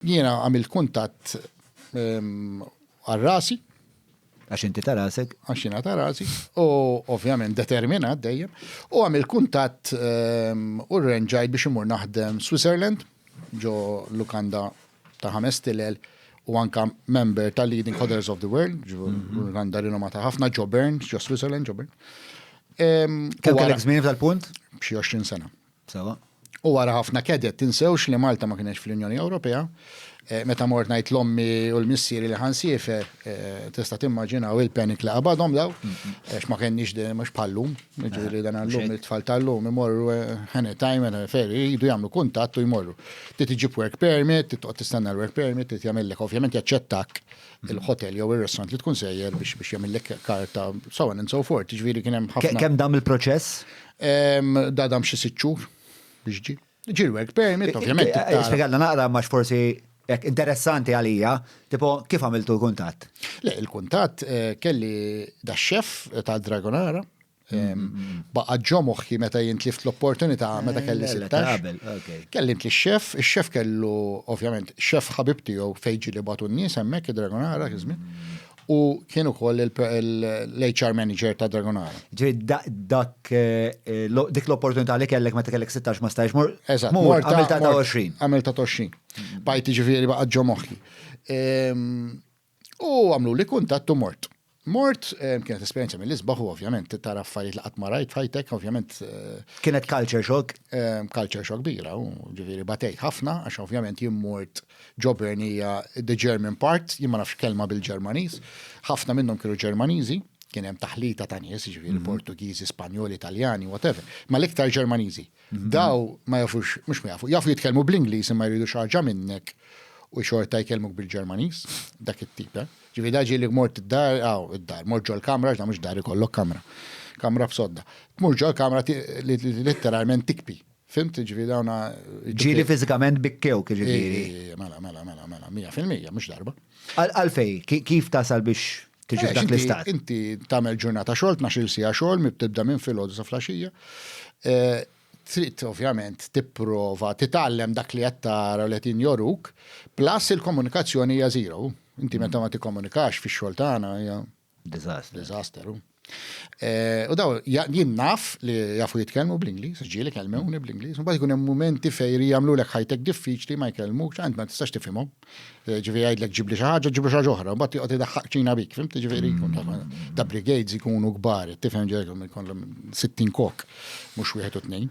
Jiena għamilt kuntatt għal rasi. Għax inti ta' rasek. Għax jiena ta' rasi. U ovvjament determinat dejjem. U għamilt kuntatt u rrenġajt biex imur naħdem Switzerland ġo lukanda ta' ħames tilel u anka member ta' Leading Hodlers of the World, lukanda rinomata ħafna ġo Bern, ġo Switzerland, ġo Bern. Kemm kellek żmien tal-punt? B'xi 20 sena. Sewwa. U wara ħafna keded, tinsewx li Malta ma kinetx fl-Unjoni Ewropea. Meta mort ngħid l-ommi u l-missieri li ħa nsiefer, tista' timmaġinaw il-panic li qabadhom dawn, għax ma kenniex din, mhux bħal llum, jiġifieri dan illum it-tfal ta' llum imorru anytime and a ferry, jridu jagħmlu kuntatt u jmorru. Trid iġġib work permit, trid toqgħod tistenna l-work permit, trid jagħmillek, ovvjament jaċċettak il-ħotel jew ir-restaurant li tkun sejjer biex jagħmillek karta, so on and so forth, jiġifieri kien hemm ħafna. Kemm dam il-proċess? Dadam xi sitt xhur biex ġi. Ġi l-work permit, ovvjament. Spjegalna naqra ma forsi Ek, interessanti għalija, tipo kif għamiltu l-kuntat? Le, il-kuntat eh, kelli da xef eh, ta' Dragonara, baqa ġomoħħi meta jintlift l-opportunità eh, meta kelli sittax. Kelli int xef il-xef kellu, ovvjament, xef ħabib tiegħu fejġi li batu n-nies hemmhekk id-Dragonara kizmin. u kien ukoll l-HR manager ta' Dragonara. Ġi dak eh, dik l-opportunità li kellek meta kellek 16 ma stajx mur. Eżatt, mur għamil ta' 20. Għamil ta' 20. Mm. Bajti ġifieri baqa' ġo moħħi. Ehm, u għamlu li kuntattu mort. Mort ehm, kienet esperjenza mill-isbaħ u ovvjament tara affarijiet li qatt ma rajt fajtek, ovvjament. Eh, kienet culture shock? Ehm, culture shock bira, u ġifieri batejt ħafna għax ovvjament jimmort. mort ġobern hija the German part, jien ma nafx kelma bil-Ġermaniż. Ħafna minnhom kienu Ġermaniżi, kien hemm taħlita ta' nies, ġifieri mhm. Portugiżi, Spanjoli, Italjani, whatever, ma l-iktar Ġermaniżi. Mhm. Daw ma jafux, mhux ma jafu, jafu jitkellmu bl-Ingliż imma jridu xaġa minnek u xorta jkellmuk bil-Ġermaniż, dak it-tip, eh? Ġifieri daġi li mort id-dar, aw id-dar, mort ġol kamra, ġda mhux dar ikollok kamra. Kamra b'sodda. Tmur ġol kamra literalment tikpi. Fimt ġviri għawna. Ġiri fizikament bikkew ġviri. Mela, mela, mela, mela, mija fil-mija, mux darba. Għalfej, kif tasal biex tiġi eh, dak l-istat? Inti tamel ġurnata xol, 12 sija xol, mibtibda minn fil-ħodu sa flasġija. Eh, trid ovvjament tipprova titgħallem dak li qed tara li qed joruk, plus il-komunikazzjoni hija zero. Inti meta ma tikkomunikax fix-xogħol tagħna hija Disaster. Disaster. Eh, u daw, jien naf li jafu jitkellmu bl-Inglis, ġieli kelmewni bl-Inglis, mbagħad ikun hemm momenti fejn jagħmlu lek ħajtek diffiċli ma jkellmuk, ċant ma tistax tifhimhom. Eh, ġifieri jgħidlek ġibli xi ħaġa, ġibli xi oħra, mbagħad joqgħod idaħħaq ċina bik, fim ġifieri jkun ta' brigades ikunu kbar, tifhem ġejkom ikollhom 60 kok, mhux wieħed u tnejn.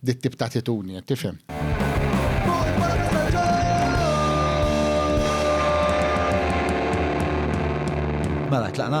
dit-tip ta' attitudni, qed tifhem. Mela, tlaqna?